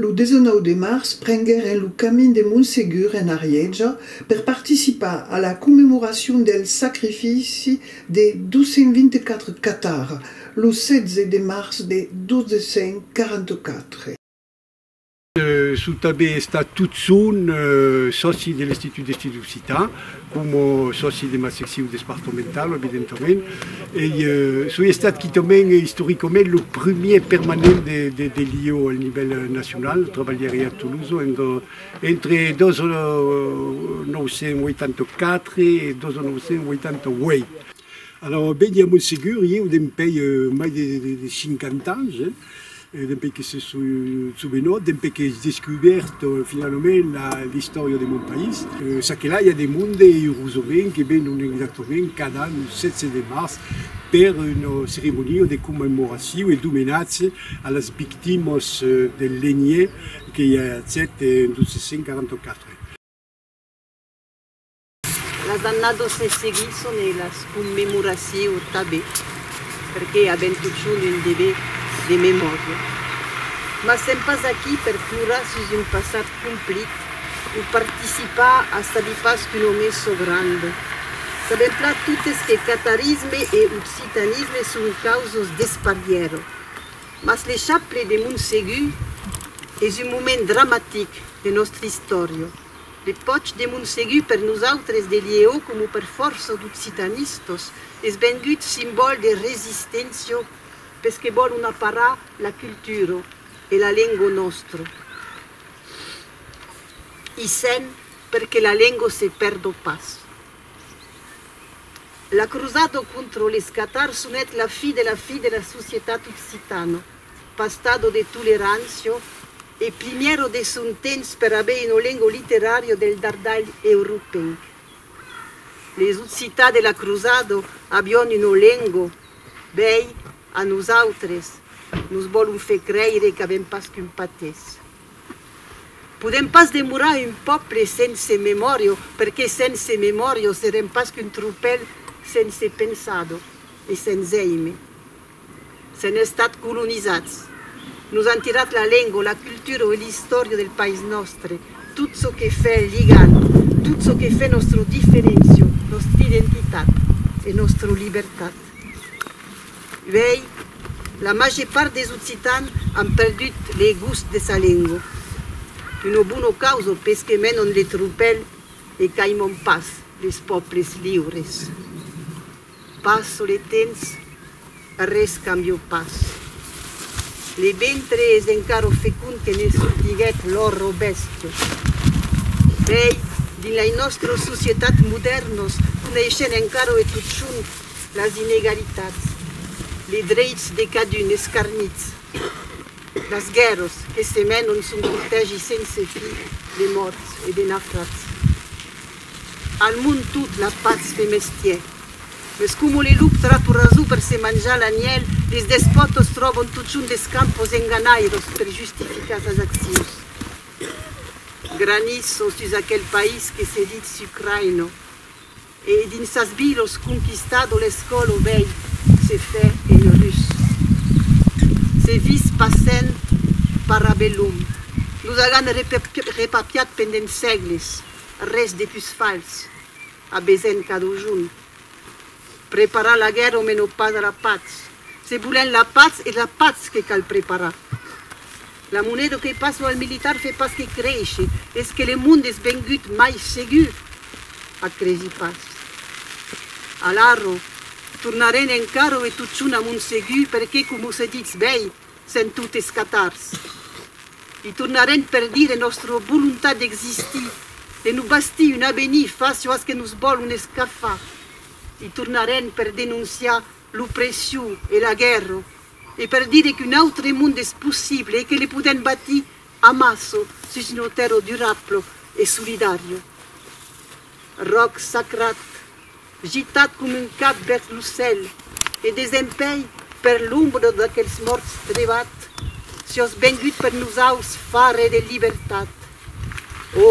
Lo 19 de març prengueren lo camin de Montsegur en Arièja per participar a la commemoracion del sacrifici de 224 catars lo 16 de març de 1244. Sò tanben estat tot sonh sòci de l'Institut d'Estudis Occitans, coma sòci de ma seccion despartamentala, evidentament. Ei, soi estat quitament, istoricament, lo primièr permanent de l'IEO al nivèl nacional, trabalhèri a Tolosa entre 1984 e 1988. Alara, ben, ja m'en segur, ieu dempuèi mai de 50 ans, Dempuèi que se sobenò, dempuèi qu'es descubèrt finalament l'istòria de mon país, çaquelà i a de monde eurosovent que venon exactament cada an lo 16 de març per una ceremonia de commemoracion e d'omenatge a las victimas del lenhièr que i a 7 en 1244. Las annadas se seguisson e las commemoracions tanben, perque avèm totjorn un dever de memòria. Mas sèm pas aquí per plorar sus un passat complit o participar a sabi pas qu'un òme çò grand. Sabèm plan totes que catarisme e occitanisme son causos d'esparièra. Mas l'Echappele de Montsegur es un moment dramatic de nòstra istòria. De pòch de Montsegur per nosautres de Liéo coma per fòrça d'occitanistas es vengut simbòl de resisténcia pes que vòlon aparar la cultura e la lenga nòstra i sen per que la lenga se pèrda pas. La crosada contra les catars sonèt la fi de la fi de la societat occitana. Pastado de Tolerancio e primièro de son temps per aver ino lengo literàrio del dardalh europeic. Les Occità de la Crusado avion ino lengo, bèi, a nosautres, nos vòlon fer creire qu'avèm pas qu'un patès. Podèm pas demorar un pòble sense memòrio, perqué sense memòrio serem pas qu'un tropèl sense pensado e sens èime. S'èn estat colonizats. Nos an tirat la lengo, la cultura e l'istòria del país nòstre, tot çò que fè ligant, tot çò que fè nòstra diferencia, nòstra identitat e nòstra libertat. Uèi, la màger part des Occitans an perdut le gust de sa lengo. Una bona causa pes que menon le tropèl e qu'aimam pas les pòbles liures. Pas sul e temps arrés cambió pas. Le ventre es encara fecond que ne sortiguèt lor robèst. Bèi, dins lei nòstros societats modèrnos coneishen encara e totjorn las inegalitats, les dreits de cadun escarnits, las guèrras que se menon son cortègi sense fi de mòrts e de nafrats. Al mond tot la patz fe mestier. Mes como le lup tra to raso per se manjar l'anièl, les despòtos tròbon totjorn d'escampos enganhairós per justificar sas accions. Granis son sus aquel país que se ditz Sucraino e dins sas vilos conquistado l'escòlo vei se fè en rus. Se vis passent parabellum. Nos agan repapiat pendent sègles Res de pus fals, a besenh cadujun preparar la guèrra o mèn o pas a la patz. Se volènh la patz, es la patz que cal preparar. La moneda o que pas lo al militar fe pas que créisher, es que le monde es vengut mai segur. Ac cresi pas. Alara, tornarènh encara o e totjun a mon segur, perqué, coma o se ditz bèi, Sent tot escatars. I tornarem per dire nòstra volontat d'existir, de nos bastir un avenir fàcio as que nos vòlon escafar. I tornarem per denonciar l'opression e la guèrra e per dire qu'un autre monde es possible e que le podèm batir amassa sus una tèrra durabla e solidària. Ròc sacrat. gitat com un cap vèrs lo cèl e desempèi per l'ombra d'aquels mòrts trevat, siòs vengut per nosaus far-e de libertat. Ò,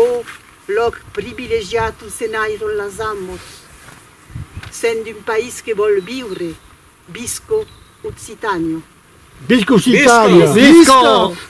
lòc privilegiat on se nairon las amos! Sent d'un país que vòl viure, visco Occitània! Visca Occitània! Visca!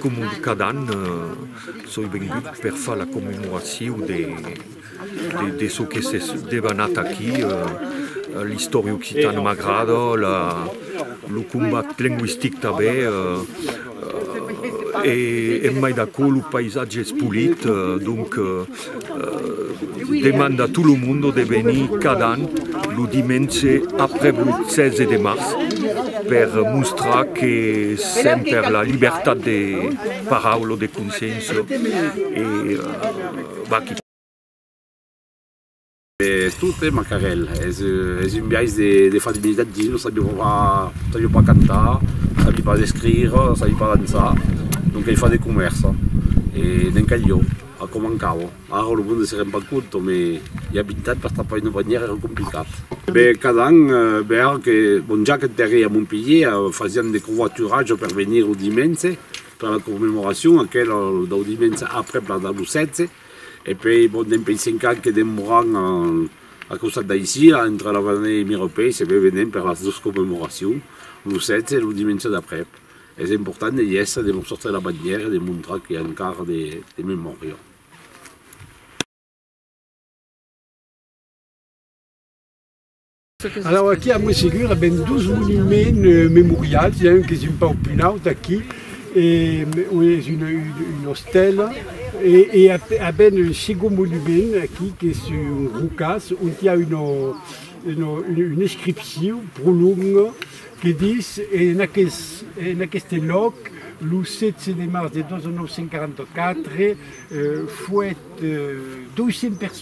Coma cada an, soi vengut per far la commemoracion de çò que s'es debanat aquí, l'istòria occitana m'agrada, lo combat lengüistic tanben, e mai d'aquò lo païsatge es polit, donc Demanda a tot lo monde de venir cada an lo dimenge aprèp lo 16 de març per mostrar que sèm per la libertat de paraula o de consciéncia. Tot e macarèl, es un biais de far dignidad dins lo sabi pas cantar, sabi pas escrire, sabi pas dançar, non qu'ei far de comèrça e n'en cal jo, a com mancava, ara lo monde se rend pas compte me i a 20 ans bastava pas una bandièra era complicat. Cada an bèra que mon jaquet per ei a Montpelhièr fasián de covaturatge per venir lo dimènse per la commemoracion aquela dau dimènse aprèp la dau 16, E puèi, bon, demb ei cinc ans que demoran al costat d'aicí, a entre la Vanèia e Mirepèi, se ve venent per las dos commemoracions, lo 16 e lo dimenge d'aprèp. Es important de i èstre, de mos sortir la bandièra e de montrar que i a encara de memòria. Alara aquí a Montségur a ben dos monuments memorials, i a un qu'es un pauc pus naut aquí, ue es una ostèla, e a ben un segon monument aquí qu'es un rocàs ont i a una inscripcion pro longa que dis, en aqueste lòc, lo 16 de març de 2944, fuèt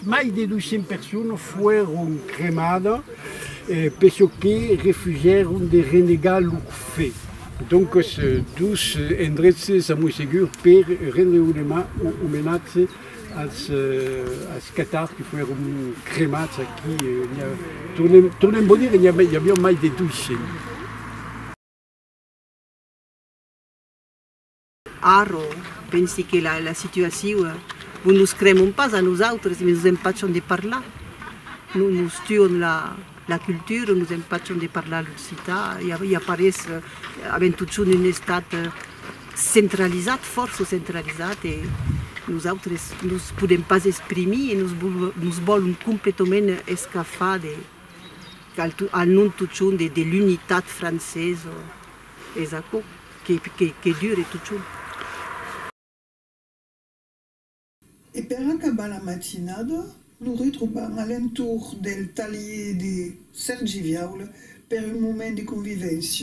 Mai de 200 personas foèron cremadas per çò que refusèron de renegar lo fe. Doncas, dos endrechs s'amoi segur per rendre omenatge als catars que foèron cremats aquí. Tornem vos dire, i aviá mai de 200. Arro, pensi que la la situaciu bon nos cremon pas a nosautres me nos empachan de parlar no nos tuon la la cultura nos empachan de parlar l'occità i a i a parés avèm totjorn un estat centralizat fòrça centralizat e nosautres nos podem pas exprimir e nos vol nos vòlon completament escafar de al non totjorn de de l'unitat francesa Es aquò que dure totjorn. E per acabar la matinada, lo retrobam a l'entorn del talhier de Sèrgi Viaula per un moment de convivéncia.